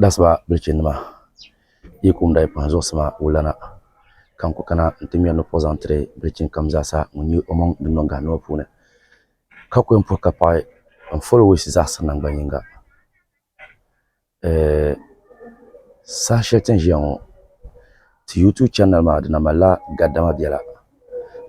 Dasima bilichini nima yi kum daa yi kpahi zuɣusima wulana ka n ku kana n ti ŋmɛri ni puhi zaŋ tiri bilichini kam zaa sa ŋun nyɛ o maŋ din niŋ gahindini ŋɔ puuni ka ku yɛn puhi ka paɣi n folo wayisi zaɣisiri nangban yiŋga saha shɛli ti ni ʒiya ŋɔ ti yuutuub chanali maa di na mali la gadama bɛla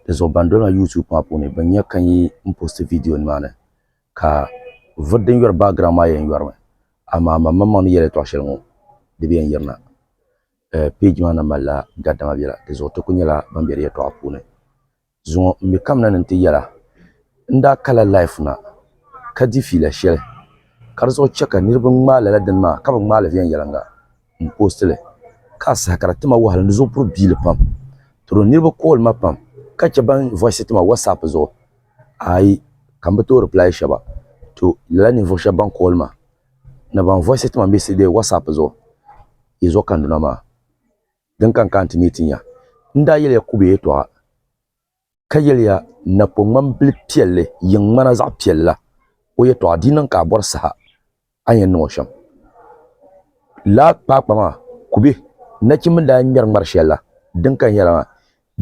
di zuɣu ban doli ma yuutuub maa puuni bin nya ka n yi posti viidiyonima ni Ka vuri din yɔri background maa yɛn yɔri mi amaa man maŋmaŋ ni yɛli yɛltɔɣa shɛli ŋɔ di bi yɛn yirina. Page maa na malila gadama biɛla di zuɣu ti kuli nyɛla ban be di yɛltɔɣa puuni. Zuŋɔ m mi kamina ni nti yɛla n daa kala life na ka di fiila shɛli ka di zuɣu chɛ ka niriba ŋmaai lala dini maa ka bi ŋmaai li viɛnyɛliŋga. m post li ka a saha ka di ti ma wahala ni zuɣu puri biili pam toro niriba call ma pam ka che ban voice ti ma whatsapp zuɣu ayi ka m bi tooi reply sheba to lala ninvuɣu sheba ban call ma ni ban voice ti ma message whatsapp zuɣu yi zuɣu kanduna maa din ka n kaanti ni yi ti nya n daa yeliya Kube yɛltɔɣa. ka yɛliya, Napɔŋmam bil piɛlli yiŋ ŋmana zaɣ piɛlli la, o yɛtɔɣa di niŋ ka a bɔri saha a ni yɛn niŋ o shɛm. Laa kpaakpa maa, kubɛ, nachimba ni daa yɛn ŋmɛri ŋmari shɛli la, din kaya nyɛla maa,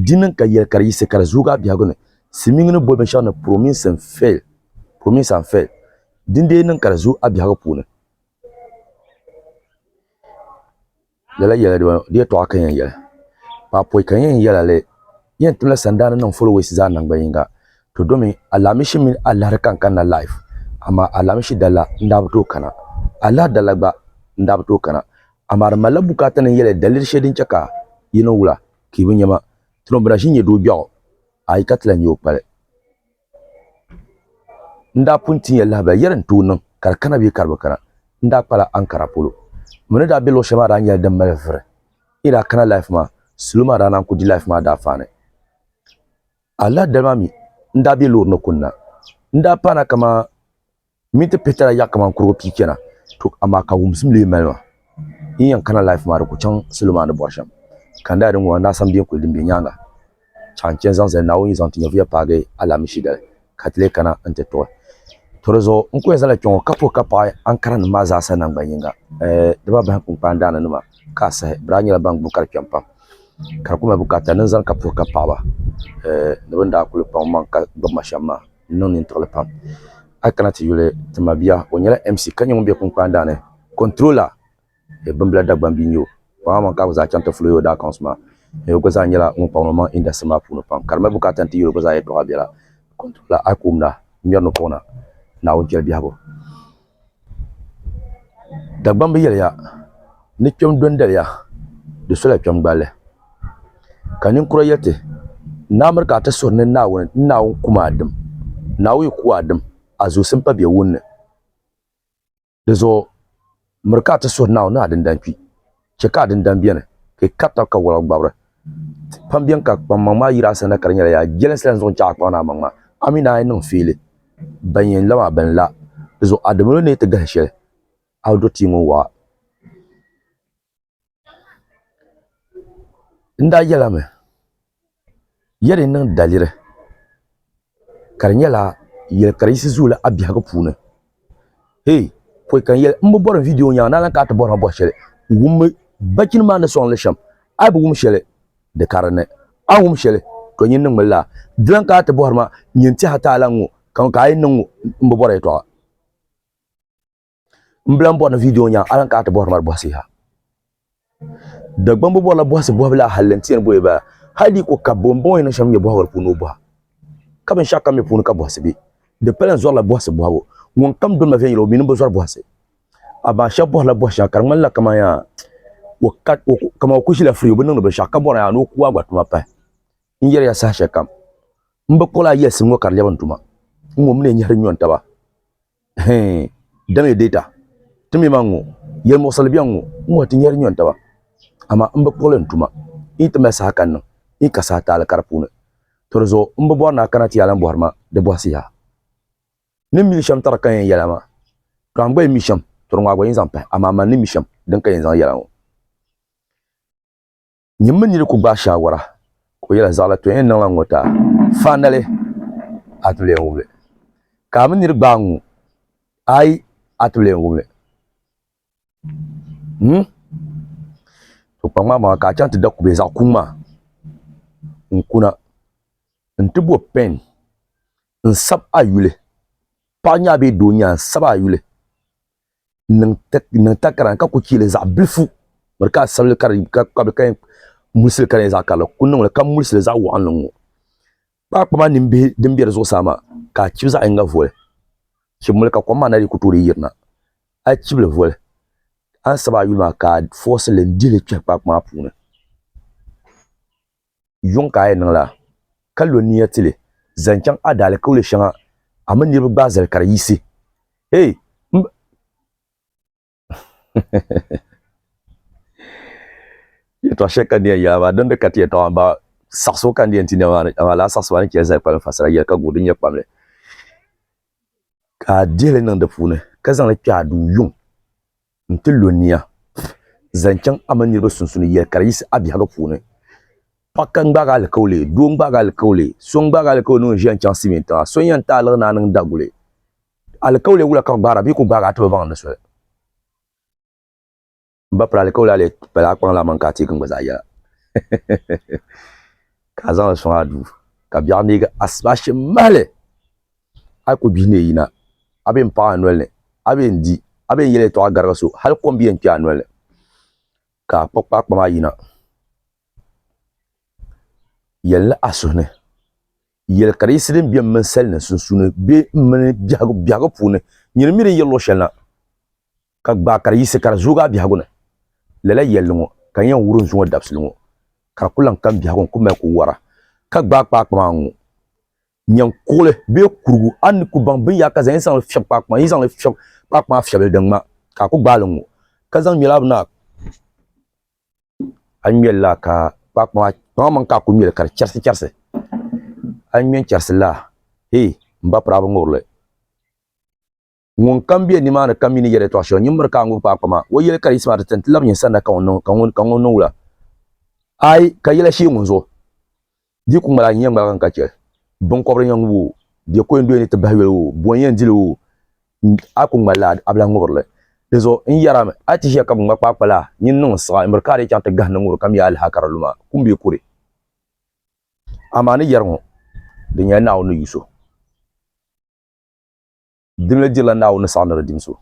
Di niŋ ka yɛli ka di yiɣisi ka di zooi a biɛhigu ni, silimiiŋ ni boli binshɛɣu ni promise and fail, promise and fail, din dee niŋ ka di zooi a biɛhigu puuni. Lala yɛla dibanu di yɛtɔɣa ka n yɛn yɛli, ka a pɔi ka n yɛn yɛl a li, N yɛn timla sandaa ni niŋ followers zaa naŋgban yiŋga, to domi alaamishi mini alahiri ka n kanna live, amaa alaamishi dala n daa bi tooi kana, alahiri dala gba n daa bi tooi kana, amaa di malila bukaata ni n yɛli daliri shɛli din chɛ ka yi ni wula ka yi bi nya ma, Tino bina ʒi n-nyɛ doo biɛɣu, a yi ka ti lan nya o kpali. N daa pun ti nya lahabali yɛri n tooi niŋ ka di kana bee ka di bi kana. N daa kpala ankara polo. M mi ni daa be luɣ shɛli maa daa nyɛla din mali vuri. N yi daa kana laif maa, salo maa daa naan ku di laif maa daafaani. Alaadali maa mi, n daa be loori ni kunna. N daa paana kamani Min ti pihitala yaɣi kaman kurigu pii kpɛna, to amaa ka wumsim lee mali ma. N yɛn kana life maa di ku chaŋ salo maa ni bɔri shɛm. Ka n daa di ŋɔ, n daa sam biɛnkuli din be nyaaŋa chaŋ n chani zaŋ zali Naawuni zaŋ ti nyɛvuya paagi alaamishi dali ka ti lee kana nti tuɣi. To di zuɣu n ku yɛn zala kpɛŋɔ ka puhi ka paɣi Ankaranim maa zaasa naŋgban yiŋga. Di ba bahim kpunkpaan daana nima ka a sahi, bɛ daa nyɛla ban gbubi ka di kpɛm pam. Ka di ku mali bukaata ni n zani ka puhi ka paɣi ba ni bɛ ni daa kuli kpaŋ maŋ ka gbubi ma shɛm maa. N niŋ nintiɣili pam. A kana ti yuli ti ma bia. O nyɛla MC ka nyɛ ŋun be Kunkpaan daa ni. Controller e Bimbila Dagbani bia n-nyɛ o. Paamaman ka a gba zaa chaŋ ti fuli o Yoda accounts maa. N o gba zaa nyɛla ŋun kpaŋ ni o maŋ industry maa puuni pam. Ka di mali bukaata n-ti yuli o gba zaa yɛltɔɣa biɛla. Controller a ku wumda, ŋmɛri ni kpuɣi na. Naawuni chɛli biɛhigu. Dagbamb yɛliya ni kpɛm dondoliya, di sola kpɛm gballi. Ka ninkura yɛti, N amir ka a ti suhuri ni Naawuni, N Naawuni kum a dim, Naawuni yi ku a dim, a zuusim pa bɛ wunni. Dizuɣu miri ka a ti suhuri Naawuni ni a dindali kpi. Chɛ ka a dindani beni, ka yi kari tab ka wala gbabiri. Pam beni ka kpaŋmaŋ maa yiri a sani na ka di nyɛla yaa jɛlinsi la n-zaŋ chaŋ a kpaŋ ni a maŋ maa. A mi naai niŋ fiili ban yɛn la maa bɛn la, di zuɣu a di mini o ni yi ti gahi shɛli a o dɔktii ŋun waɣa. N daa yɛlimi. ya ni niŋ daliri ka di nyɛla yɛli ka di yiɣisi zuuli a biɛhigu puuni hee pɔi ka n yɛli n bi bɔri n viidiyo ŋɔ nyaŋ naanyi ka a ti bɔri ma bɔri shɛli wummi bachini maa ni sɔŋ li shɛm a yi bi wum shɛli di ka dinni a ni wum shɛli to nyin niŋmi lala di lan kana ti bɔhiri ma nyin tɛha taala n ŋɔ ka ŋɔ ka a yi niŋ ŋɔ n bi bɔra yɛtɔɣa. n bila n bɔri ni vidiyo nya alan ka ti bɔhiri mali bɔhisi ha dagbambu bɔrila bɔhisi bɔhibila halli n tiɛni bɔhi ba hali di ko kabbu n bɔŋɔ ni shɛm nyɛ bɔhibili puuni o bɔha ka binshɛɣu kam mi puuni ka bɔhisi be di pala n zɔrila bɔhisi bɔhibu ŋun kam doli ma viɛnyɛla o mini bi zɔri bɔhisi amaa shɛba bɔhirila bɔhi shɛŋa ka di ŋmanila kamani yaa kamani o ku ʒila firi o bi niŋdi binshɛɣu ka bɔra yaa ni o ku agba tuma pahi n yɛliya saha shɛli kam n bi kpuɣila a yɛlisim ŋɔ ka di lɛbi n tuma n ŋɔ mi ni nyɛhiri nyɔni taba Dam ya deeta ti mi ma ŋ-ŋɔ, yɛlimuɣisili bɛn ŋ-ŋɔ, ŋ-ŋɔ ti nyari nyɔni taba, amaa m bi kpuɣi li n-tuma. N yi ti mali saha ka n niŋ, n yi ka saha taali ka di puuni. To di zuɣu m bi bɔri ni a kana ti yaa lan bɔhiri ma di bɔhisi yaha. Ni m mi li shɛm tari ka yɛn yɛli a maa, tɔ a gba yi mi shɛm, tɔ di ŋɔ a gba yɛn zaŋ pahi, amaa mani ni mi shɛm din ka yɛn zaŋ yɛli a ŋɔ. Nyini mini nini ku gbaai shaawara ka o yɛla zaɣila to yɛn niŋla ŋ-ŋɔ taa faanali a ti bi lee wumli ka a mini nini gbaai ŋ-ŋɔ ayi a ti bi lee wumli hmm to kpaŋ maa maŋa ka a chaŋ ti da kubɛ zaɣ kuŋ maa n kuna n ti bo pɛn n sab a yuli paɣa nya bee doo nya n sab a yuli niŋ takara ka ku chɛli zaɣ bilifu n bɔri ka a sabili ka di kpabili ka yɛn mulisi ka di nyɛ zaɣ karili ku niŋli ka mulisili zaɣ waɣanli n ŋɔ kpaakpa maa nin bihi din bɛ di zuɣusaa maa ka a chibi zaɣ yinga voli chibimoli ka kom maa na dii ku tooi yirina a yi chibili voli a ni sabi a yuli maa ka a foosilli n dihili kpɛhi kpaakpa maa puuni Yuŋ ka a yi niŋ la, ka lo nia ti li zaŋ chaŋ a daalikauli shɛŋa, a mini niriba gbaai zali ka di yiɣisi. Hey, m ba! Yɛtɔɣ shɛli ka n ni yɛn yɛl a maa, dindin ka ti yɛtɔɣ maa baai saɣisibu ka n ni yɛn ti nɛma maa ni, amaa lala saɣisibu maa ni chɛ zali kpalim fasara yɛli ka guhi din nyɛ kpamli, ka a dihi li niŋ di puuni, ka zaŋ li kpɛh a duu Yuŋ. n ti lo nia zaŋ chaŋ a mini niriba sunsuuni yɛli ka di yiɣisi a biɛhigu puuni. Paɣ ka n-gbaag a alikauli, doo n-gbaag a alikauli, so n-gbaag a alikauli ni o ni ʒiya n-chaŋ Siimiin tiŋa, so n-yɛn ti aliɣi ni a niŋ daguli. Alikauli wula ka bɛ gbaara bɛ yi ku gbaag a a ti bi baŋ ni soli. M ba piri alikauli a lee pala a kpaŋ laa man ka a teegi n gba zaa yɛla ka a zaŋ li sɔŋ a duu ka biɛɣu neeg a asibashi mahili. A ku bihi ni yi yina, a bee m-paɣi a noli ni, a bee n-di, a bee n-yɛl yɛtɔɣa garigi so, hal kom bi yɛn kpe a noli ni, ka a kpuɣi kpaakpa maa yina. Yɛlli a suhu ni, Yɛl ka di yiɣisi din bem mini sali ni sunsuuni bee m mini biɛhigu biɛhigu puuni, nyini mi din yiri luɣ shɛli na, ka gbaai ka di yiɣisi ka di zooi a biɛhigu ni. Lala yɛlli ŋɔ ka n yɛn wuri n zuŋɔ dabisili ŋɔ, ka di ku lan ka m biɛhigu n ku mali ku wara, ka gbaai kpaakpa maa n-ŋu. Nyaŋ kuɣili bee kurigu, a ni ku baŋ binyɛra ka zaŋ yi zaŋli fiɛbi kpaakpa maa, yi zaŋli fiɛbi kpaakpa maa fiɛbili din ŋma ka a ku gbaai li ŋ-ŋɔ, ka zaŋ ŋmɛlaa bini a A ŋmɛli laa ka kpaakpa maa, kpaŋa maŋ ka a ku ŋmɛli ka di chɛrisi chɛrisi. A ŋmɛ n-chɛrisi laa, hee! M ba piraaba ŋubirili. Ŋun kam be nimaani kam mi ni yɛl yɛtɔɣ shɛŋa nyin miri ka a ŋub kpaakpa maa. O yɛli ka di yiɣisi maa ti ti n ti lab nyin sanda ka ŋun niŋ wula? Aai, ka yɛla shee ŋun zuɣu di ku ŋmaligi n-nyɛ ŋmaliga n-ka chɛ biŋkɔbiri n-yɛn ŋub o, bɛ koin doya ni ti bahi yoli o, bo n-yɛn dil o, a ku ŋmalila a bilahi ŋubiri li. Dinzuɣu n yɛra mi, a ti ʒiya ka biŋŋma kpaakpa la nyin niŋ n-siɣ a, n miri ka a dii chaŋ ti gahindi ŋubiri ka mi a lihi a ka di lu maa, kum bee kuri. Amaa ni yɛri ŋɔ, di nyɛla Naawuni ni yu so. Di mili dirila Naawuni ni saɣi ni di dim so.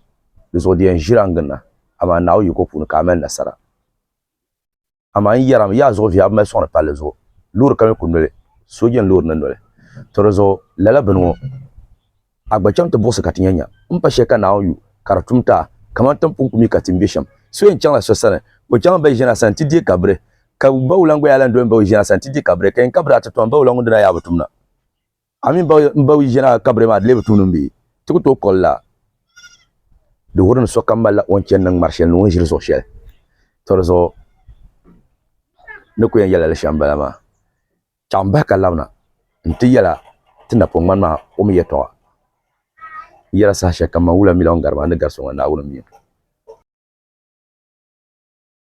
Di zuɣu di yɛn ʒiri a n-gin na, amaa Naawuni yiko puuni ka a mali nasara. Amaa n yɛri a mi, yi a zuɣu vihi a bi mali sɔŋdi palli zuɣu loori ka mi ku noli sooja ni loori ni noli. To di zuɣu lala bini ŋɔ, a gba chaŋ ti buɣisi ka ti nya nya m pa shɛli ka Naawuni yu ka di tum ti a, kaman ti ni pun ku mi ka ti ni be shɛm. So yɛn chaŋla so sani, o chaŋ m-ba yi ʒini a sani ti deei kabiri, ka bawula n-gba yaa lan doli m-ba yi ʒini a sani ti deei kabiri, ka yɛn kabiri a ti tɔhi m-ba wula ŋun dina yaa bi tum na. A mi n ba yi ʒina kabiri maa di lee bi tuuni m-bi ti ku tooi kol la? Di wuhiri ni sokam malila o ni chani ni ŋmari shɛli ni o ni ʒiri zuɣu shɛli. To di zuɣu ni ku yɛn yɛlila li shɛm bala maa. Chaŋ bahi ka labina nti yɛla ti napɔŋ ŋmani maa o mi yɛtɔɣa. N yɛla saha shɛlikam man wula mi la o ni gari maa ni gari so ŋɔ Naawuni m-mi o.